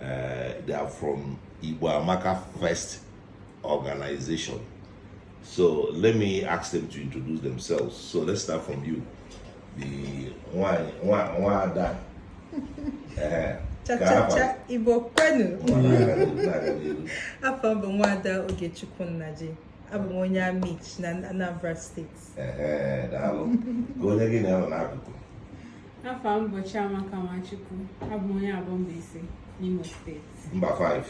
Uh, they are from Igbo Amaka Fest Organization. So let me ask them to introduce themselves. So let's start from you. The nwa, nwa, nwada. Uh, cha cha cha Igbo kwenu. Afa m bụ nwada Ogechukwu Nnaji. Abụ m onye Amichi na Anambra Steeti. daalụ ka onye gị na ya nọ n'akụkụ afa m bụ Chiamaka Nwachukwu abụ m onye Aboh Mbaise n'Imo steeti mba 5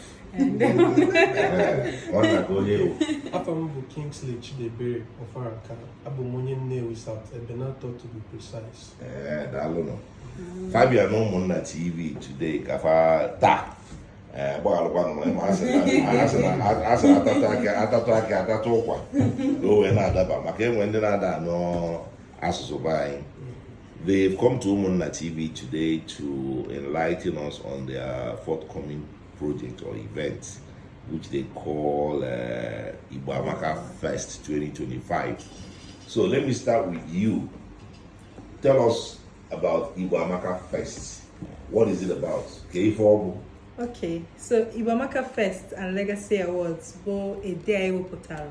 nwanna ka onye ewu afa m bụ Kingsley Chidebere Ofaraka abụ m onye Nnewi South Ebenator to be precise daalụnụ fa bịa n'Ụmụnna TV today ka fa taa ee gbaghalụkwanụ na ị ma a sị atatụ akị atatụ akị atatụ ụkwa ka o wee na-adaba maka enwe ndị na-ada anụ asụsụ be anyị They've come to Umunna TV today to enlighten us on their forthcoming project or event, which they call uh, Igbo Amaka Fest 2025. So let me start with you. Tell us about Igbo Amaka Fest. What is it about? Kee ife ọ bụ Okay, so Igbo Amaka Fest and Legacy Awards bụ a day anyị wepụtara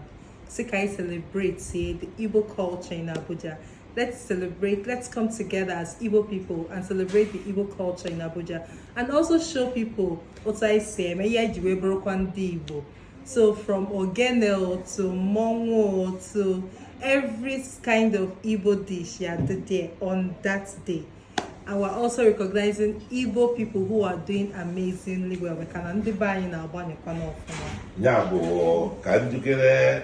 sị ka anyị celebratie the Igbo culture in Abuja. Let's celebrate, let's come together as Igbo people and celebrate the Igbo culture in Abuja and also show people otu anyị si eme ihe anyị ji wee bụrụkwa ndị Igbo. So from ogene to mmọnwụ to every kind of Igbo dish ya-adị there on that day. And we're also recognizing Igbo people who are doing amazingly well. Dị ka ndị be anyị na-agbanyekwa n'ọfụma. Ya bụ ka njikere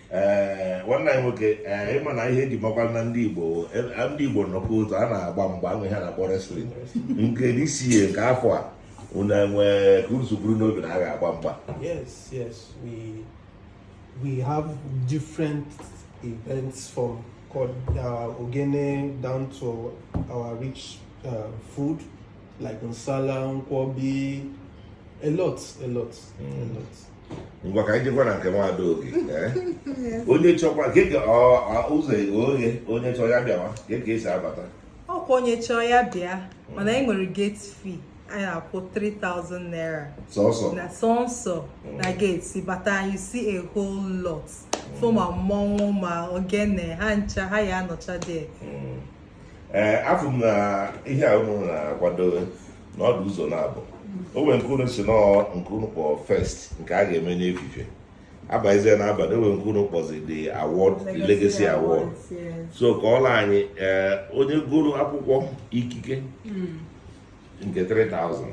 ee nwanne anyị nwoke ee ịma na ihe eji makwa na ndị Igbo e, ndị Igbo nọkọ otu a na-agba mgba ahụ ihe a na-akpọ wrestling nke this year nke afọ a unu enwee ka unu si buru n'obi na a ga-agba mgba yes yes we we have different events from uh, ogene down to our rich uh, food like nsala nkwobi a lot a lot mm. a lot ngwa ka anyị jekwa na nke nwada Oge eh? onye chọkwa keke ụzọ oghe onye chọọ ya bịawa kee ka esi abata ọkwa onye chọọ ya bịa mana anyị nwere gate fee ị ya-akwụ 3000 naira sọsọ na sọsọ mm. na gate ị bata you see a whole lot fụ ma mmọnwụ ma ogene ha ncha ha ya-anọcha there mm. ee eh, afụ m na ihe a unu na-akwado na ọ dụ ụzọ naabọ o nwere nke unu si na nke unu kpọ fest nke a ga-eme n'efife abazie na abalị o nwere nke unu kpọzi the award the legacy award so kọọla anyị eh, onye goro akwụkwọ ikike hmm. nke 3000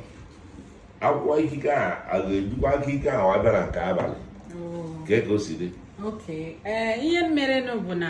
akwụkwọ ikike a a ga-ejikwa ikike ahụ abịa na nke abalị oh. kee ka o si dị eh, ihe merenụ bụ na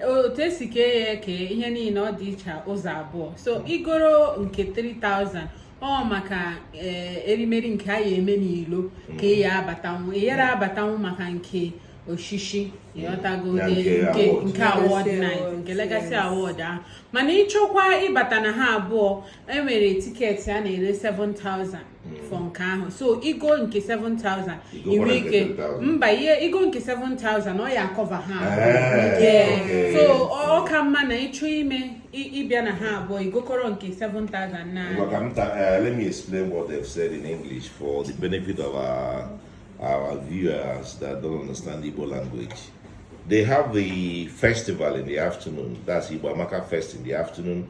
otu e si kee ya eke ihe niile ọ dị iche ụzọ abụọ so i goro nke 3000 ọ maka eh, erimeri nke a ya eme n'ilo ka ị ya abatanwu ị yara abatanwu maka nke oshishi ị ghọtago Ya nke nke award. nke award Legacy night award, nke legacy yes. award ahụ mana ị chọkwa ịbata na ha abụọ e nwere tiketi a na-ere 7000 Mm. for nke ahụ so i go nke 7000 i nwe ike mba ihe i go nke 7000 ọ ya acover ha eh, so ọ ka mma na ị chọ ime ịbịa na ha abụọ i gokọrọ nke 7000 na eh, let me explain what they've said in english for the benefit of our, our viewers that don't understand igbo language they have the festival in the afternoon that's Igbo Amaka Fest in the afternoon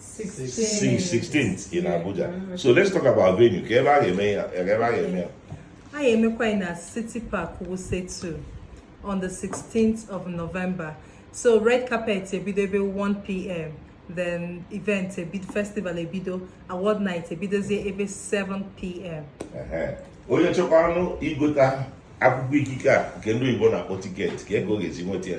16th in Abuja. Mm-hmm. So let's talk about venue. Kee ebe a ga-eme ya, ebe a ga-eme ya. A ga-emekwa ya na City Park Wuse 2 on the 16th of November. So red carpet ebido ebe 1 p.m. Then event ebido festival ebido award night ebidozie ebe 7 p.m. Onye chọkwanụ igota akwụkwọ ikike a nke ndị Igbo na-akpọ tiketi kee ka ọ ga-esi nweta ya.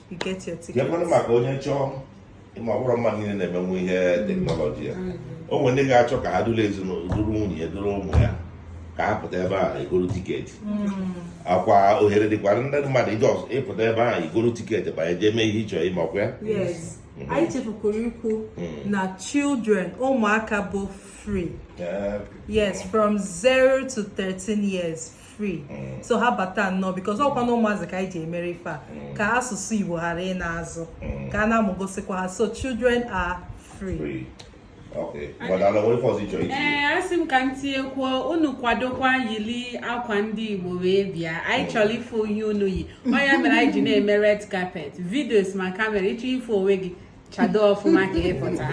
keekwanụ maka onye chọọ ị ma ọ bụrọ mmadụ niile na-emenwu ihe teknọlọji a o nwere ndị ga-achọ ka ha duru ezinụlọ duru nwunye ya duru ụmụ ya ka ha pụta ebe ahụ goro tiketi hmm. ọkwa ohere dịkwara ndị mmadụ ije ọzọ ịpụta ebe ahụ igoro tiketi banye jee mee ihe ị chọ ime ọkwa ya hmm. anyị chefukwuru ikwu hmm. na children ụmụaka bụ free yes from 0 to 13 years free mm. so ha bata nnọọ because ọkwa na ụmụazị ka anyị ji emere ife a mm. ka asụsụ igbo ghara ịna azụ mm. ka a na-amụgosikwa ha so children are free ee asị m ka m tinyekwuo unu kwadokwa yili akwa ndị igbo wee bịa anyị chọrọ ịfụ ihe unu yi ọ ya mere anyị ji na-eme red carpet videos ma camera ị chọ ịfụ onwe gị chado ọfụma ka ị pụta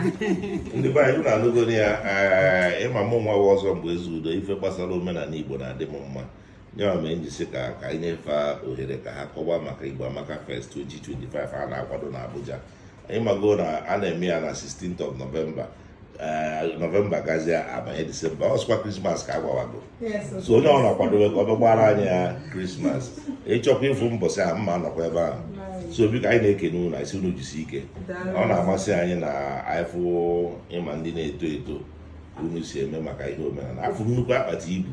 ndị be anyị unu anụgonụ ya eh, ị ma mụ nwa wụ ọzọ mgbe ezeudo ife gbasara omenala igbo na-adị m mma nyawa mee m ji sị ka ka anyị nyefe ohere ka ha kọwa maka igbo amaka fest 2025 a na-akwado na abuja ị mago na a na-eme ya na 16th of november nọvemba gazie a banye disemba ọ sịkwa krismas ka a gbawago so onye ọ bụna kwadobe ka ọ bịa gbara anyị ya krismas ị chọkwa ịfụ m bọsị a m ma-anọkwa ebe ahụ so biko anyị na-ekene unu anyị sị unu jisi ike ọ na-amasị anyị na anyị fụ ịma ndị na-eto eto unu si eme maka ihe omenala afụ nnukwu akpati ibu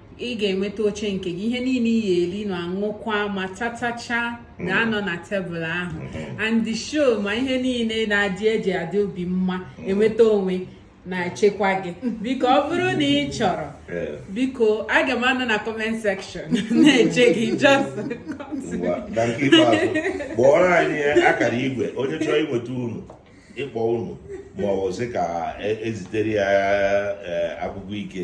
ị ga-enweta oche nke gị ihe niile ị ya-eli na-aṅụkwa ma tatacha ga-anọ na tebụl ahụ mm-hmm. and the show ma ihe niile na-adị eji adị obi mma mm-hmm. enweta onwe na-echekwa gị biko ọ bụrụ na ị chọrọ biko aga m anọ na comment section na-eche gị just kpọọrọ anyị akara igwe onye chọrọ inweta unu ịkpọ unu ma ọ bụ sị ka e, ezitere ya e, akwụkwọ ike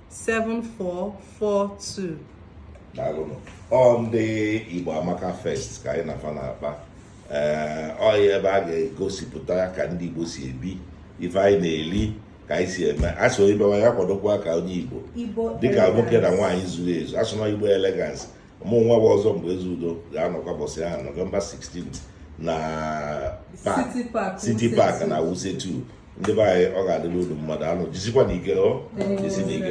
7442 daalụnụ ọ ndị Igbo Amaka Fest ka anyị na-afa na-akpa ee ọ ya ebe a ga-egosipụta ka ndị Igbo si ebi ife anyị na-eli ka anyị si eme a sị onye bịawa ya kwadokwa ka onye igbo dịka nwoke na nwaanyị zuru ezu a sị na igbo elegance mụ nwa bụ ọzọ mgbe eze udo ga-anọkwa bọsị ahụ nọvemba 16 na city park na wuse 2 ndị be anyị ọ ga-adịrị unu mma daalụnụ jisikwanụ ike jisinụ ike